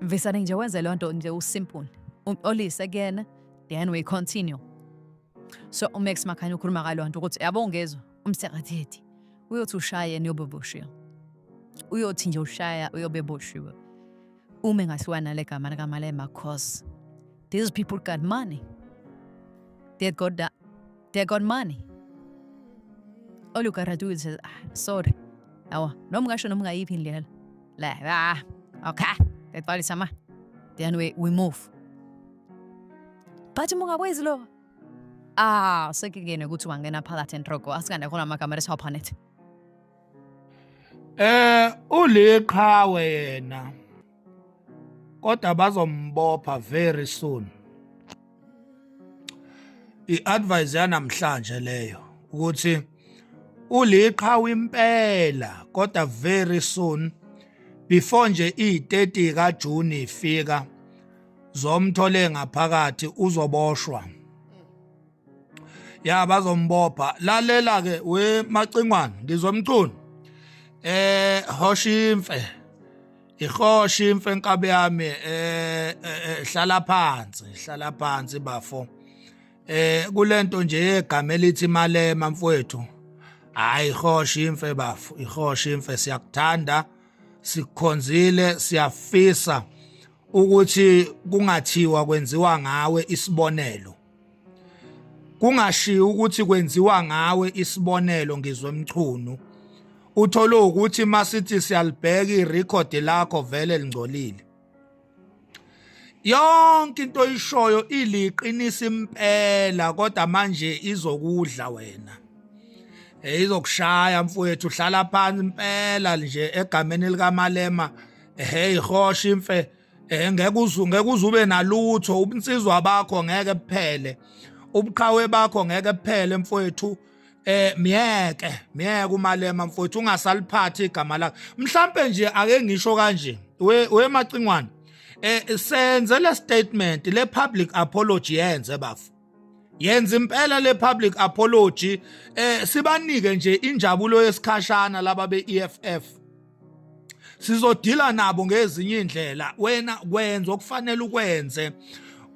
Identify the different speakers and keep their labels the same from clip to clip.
Speaker 1: Visane nje wenze loo nto nje usimple. Umxolise kuyena then we continue. So uMax Makhanya ukhuluma ngaloo nto ukuthi yabo ungezwa umsekathethi uyothi ushaye niyobe boshiwe. Uyothi nje ushaya uyobe boshiwe. Ume ngasiwa nale gama likaMalema cause these people got money. They got that They're got money. All you gotta do is just, ah, sorry. Awa, noma ungasho noma ungayiphi indlela. La, ah, okay. That body sama. Then we, we move. But mungakwazi lo. Ah, sekingene ukuthi wangena phakathi entrogo. Asikande khona amagama esiwaphana ethi. Eh
Speaker 2: uliqhawe yena kodwa bazombopha very soon i-advice yanamhlanje leyo ukuthi uliqhawe impela kodwa very soon before nje i-30 kaJune ifika zomthole ngaphakathi uzoboshwa ya bazombopha lalela ke we macingwana ngizomcuna eh hoshimfe ihoshi imfe nkabe yami eh, eh, eh hlala phansi hlala phansi bafo eh kulento nje yegama elithi malema mfowethu hayi ihoshi imfe bafo ihoshi imfe siyakuthanda sikhonzile siyafisa ukuthi kungathiwa kwenziwa ngawe isibonelo kungashiyi ukuthi kwenziwa ngawe isibonelo ngizwe mchunu uthole ukuthi masithi siyalibheka irecord lakho vele lingcolile yonke into oyishoyo iliqinisa impela kodwa manje izokudla wena eh, izokushaya mfowethu uhlala phansi impela nje egameni likamalema hey hosha imfe Eh ngeke uzu ngeke uzube nalutho ubunsizwa bakho ngeke kuphele. Ubuqhawe bakho ngeke kuphele mfowethu. Eh myeke, myeke umalema mfowethu ungasaliphathi igama lakhe. Mhlambe nje ake ngisho kanje. We we macingwane. Eh senze le statement le public apology yenze bafo. yenza impela le public apology eh sibanike nje injabulo yesikhashana laba beEFF sizodila nabo ngezinye indlela wena kwenza okufanele ukwenze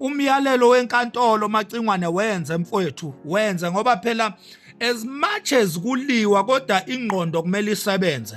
Speaker 2: umyalelo wenkantolo macingwane wenze mfowethu wenze ngoba phela as much as kuliwa kodwa ingqondo kumele isebenze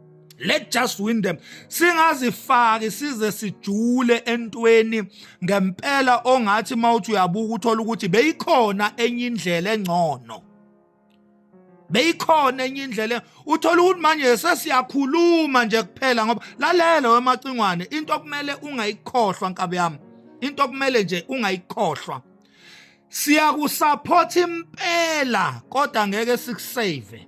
Speaker 2: let's just win them singazifaki size sijule entweni ngempela ongathi mawuthi uyabuka uthola ukuthi beyikhona enye indlela engcono beyikhona enye indlela uthola ukuthi manje sesiyakhuluma nje kuphela ngoba lalela wemacingwane into okumele ungayikhohlwa nkabi yami into okumele nje ungayikhohlwa siyakusupport impela kodwa ngeke sikusave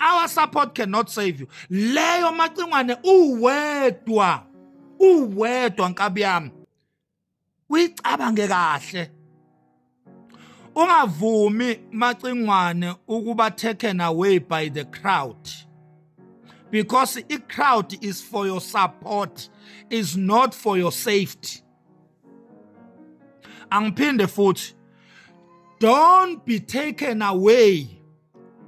Speaker 2: our support cannot save you leyo macingwane uwedwa uwedwa nkabi yami uyicabange kahle ungavumi macingwane ukuba taken away by the crowd because the crowd is for your support is not for your safety angiphinde futhi don't be taken away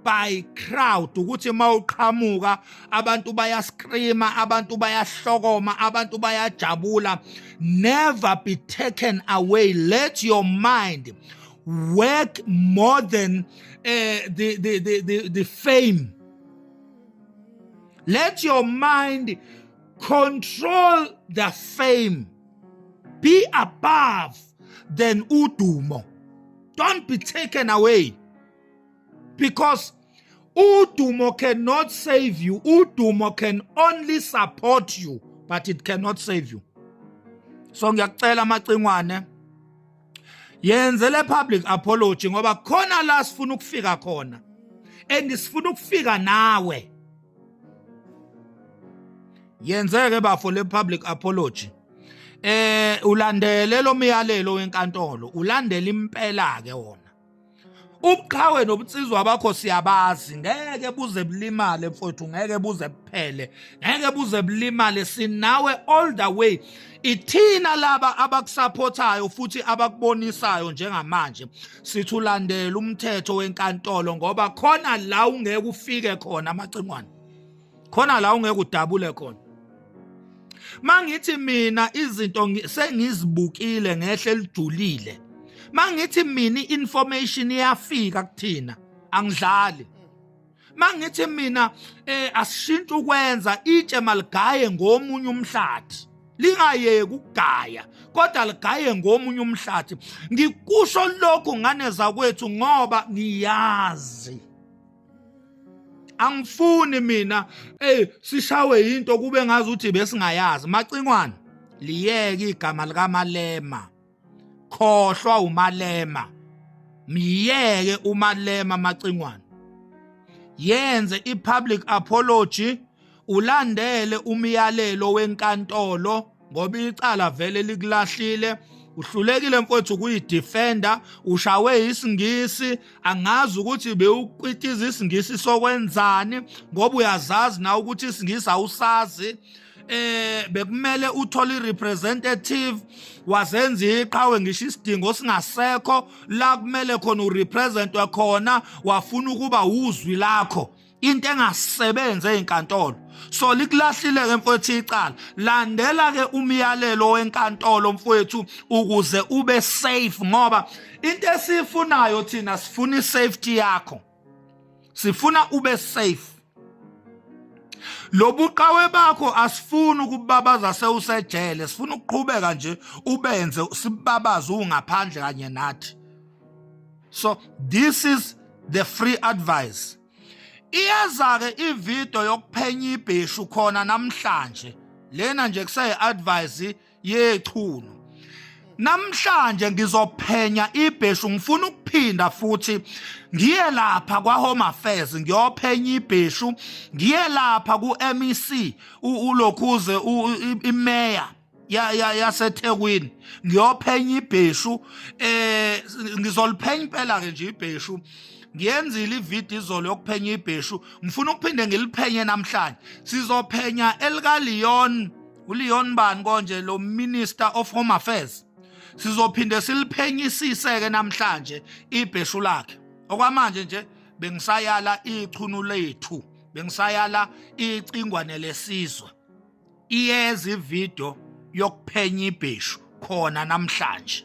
Speaker 2: by crowd ukuthi mawuqhamuka abantu bayascreama abantu bayahlokoma abantu bayajabula never be taken away let your mind work more than uh, the, the, the, the, the fame let your mind control the fame be above than udumo don't be taken away because udumo cannot save you udumo can only support you but it cannot save you so ngiyakucela amacingwane yenze le public apology ngoba khona la sifuna ukufika khona and sifuna ukufika nawe yenzeke bafo le public apology eh ulandele lo myalelo wenkantolo ulandele impela ke wona ubuqhawe nobunsizwa bakho siyabazi ngeke buze bulimale mfowethu ngeke buze buphele ngeke buze bulimale sinawe all the way ithina laba abakusapothayo futhi abakubonisayo njengamanje sithi ulandela umthetho wenkantolo ngoba khona la ungeke ufike khona amacingwane khona la ungeke udabule khona mangithi mina izinto sengizibukile ngehle lijulile mangithi mina information iyafika kuthina angidlali mangithi mina eh asishintshe ukwenza itshe maligaye ngomunye umhlathi lingayeki ukugaya kodwa ligaye ngomunye umhlathi ngikusho lokhu ngane zakwethu ngoba ngiyazi angifuni mina ey sishawe into kube ngazi ukuthi besingayazi macingwane liyeke igama likamalema khohlwa umalema myeke umalema macingwane yenze i-public apology ulandele umyalelo wenkantolo ngoba icala vele likulahlile uhlulekile mfowethu ukuyidefenda ushawe isingisi angazi ukuthi bewuqitiza isingisi sokwenzani ngoba uyazazi na ukuthi isingisi awusazi eh bekumele uthole irepresentative wazenza iqhawe ngisho isidingo singasekho la kumele khona urepresentwe khona wafuna ukuba uzwi lakho into engasebenzi ezinkantolo so likulahlile ke mfowethu icala landela ke umyalelo wenkantolo mfowethu ukuze ube safe ngoba into esifunayo thina sifuna isafety yakho sifuna ube safe lobuqawe bakho asifuni ukubabaza sewusejele sifuna ukuqhubeka nje ubenze sibabaze ungaphandle kanye nathi so this is the free advice iyeza ke ivideo yokuphenya ibheshu khona namhlanje lena nje kusayi advice yechunu namhlanje ngizophenya ibheshu ngifuna ukuphinda futhi ngiye lapha kwa home affairs ngiyophenya ibheshu ngiye lapha ku MEC ulokhuze imeya ya ya yaseThekwini ngiyophenya ibheshu eh ngizoliphenya impela ke nje ibheshu ngiyenzile ivideo izolo yokuphenya ibheshu ngifuna ukuphinde ngiliphenye namhlanje sizophenya elika Leon uLeon bani konje lo minister of home affairs sizophinde siliphenyisise ke namhlanje ibheshu lakhe okwamanje nje bengisayala ichunu lethu bengisayala icingwane lesizwe Iyeza ividiyo yokuphenya ibheshu khona namhlanje.